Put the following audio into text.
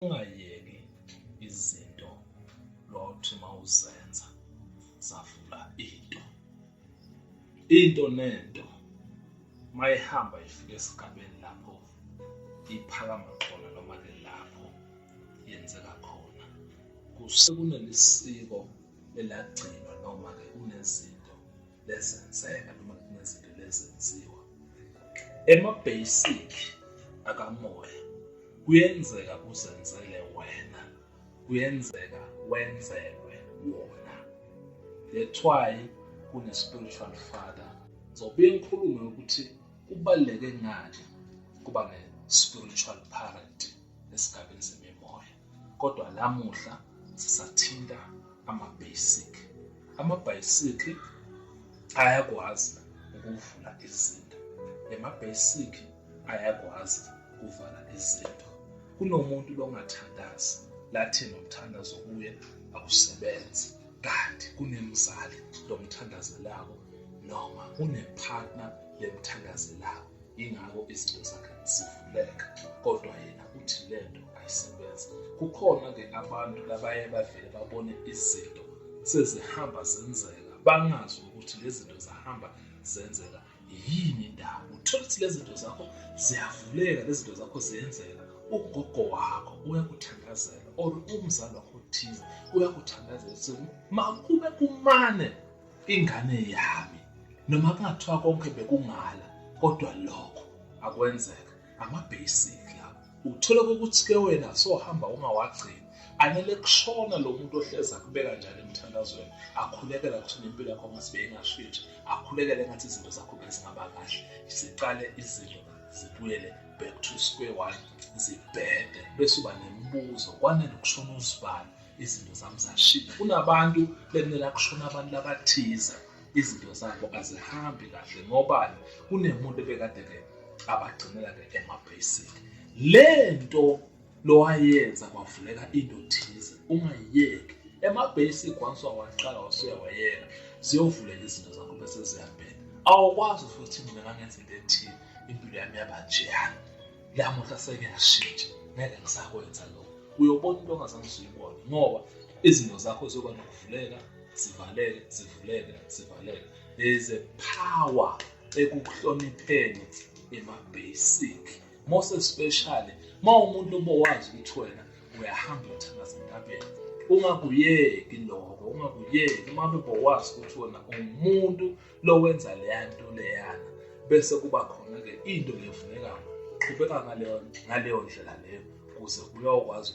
ungayeki izinto lothi mawuzenza zavula into into nento mayihamba ifike esigabeni lapho iphakama khona noma ke lapho yenzeka khona kusekunalisiko elagcinwa noma ke kunezinto lezenzeka noma kunezinto lezenziwa ema-basic akamoya kuyenzeka uzenzele wena kuyenzeka wenzelwe wona that's why kune-spiritual father ngizobe ngikhulume ukuthi kubaluleke ngani kuba ne-spiritual parent esigabeni semimoya kodwa namuhla sisathinta ama-basic amabhayisikli ayakwazi ukuvula izinto lama-basic ayakwazi ukuvala izinto kunomuntu longathandazi lathi nomthandazo kuye akusebenzi kanti kunemzali lomthandazelayo noma unepartner lemthandazelayo ingakho izinto zakhe zivuleka kodwa yena uthi le nto ayisebenzi kukhona-ke abantu labaye bavele babone izinto sezihamba zenzeka bangazi ukuthi lezi zinto zahamba zenzeka yini indaba uthole ukuthi lezi zinto zakho ziyavuleka lezi zinto zakho ziyenzeka ugogo wakho uyakuthandazela or umzali wakho othize uyakuthandazela ukuthi makube kumane ingane yami noma kungathiwa konke bekungala kodwa lokho akwenzeka amabasic la uthola ukuthi ke wena sohamba ungawagcini anele kushona lo muntu ohleza kubeka njalo emthandazweni akhulekela kuthina impilo yakho ngasibe ingashintshi akhulekele ngathi izinto zakho bezingaba kahle siqale izinto zibuyele back to square one zibhede bese uba nemibuzo kwanele ukushona uzibani izinto zami zashiya kunabantu bekumele akushona abantu labathize izinto zabo azihambi kahle ngobani kunemuntu ebekade-ke abagcinela-ke ema-basic le nto lowayenza kwavuleka into thize ungayiyeki ema-basic once wawaqala wasuya wayeka ziyovuleka izinto zakho bese ziyabheka awukwazi futhi mina ngangenza into ethile impilo yami yaba njeyana lamuhla sengiyashintsha ngeke ngisakwenza lokho uyobona into ongazange usuyibone ngoba izinto zakho ziyoba nokuvuleka zivaleke zivuleke zivaleke there is a power ekuhlonipheni ema-basic most especially ma umuntu obowazi ukuthi wena uyahamba uthandaza entabeni ungakuyeki lokho ungakuyeki uma bebowazi ukuthi wena umuntu lowenza leya nto leyana bese kuba khona-ke into ngevulekayo qhubeka ngaleyo ndlela leyo kuze kuyokwazi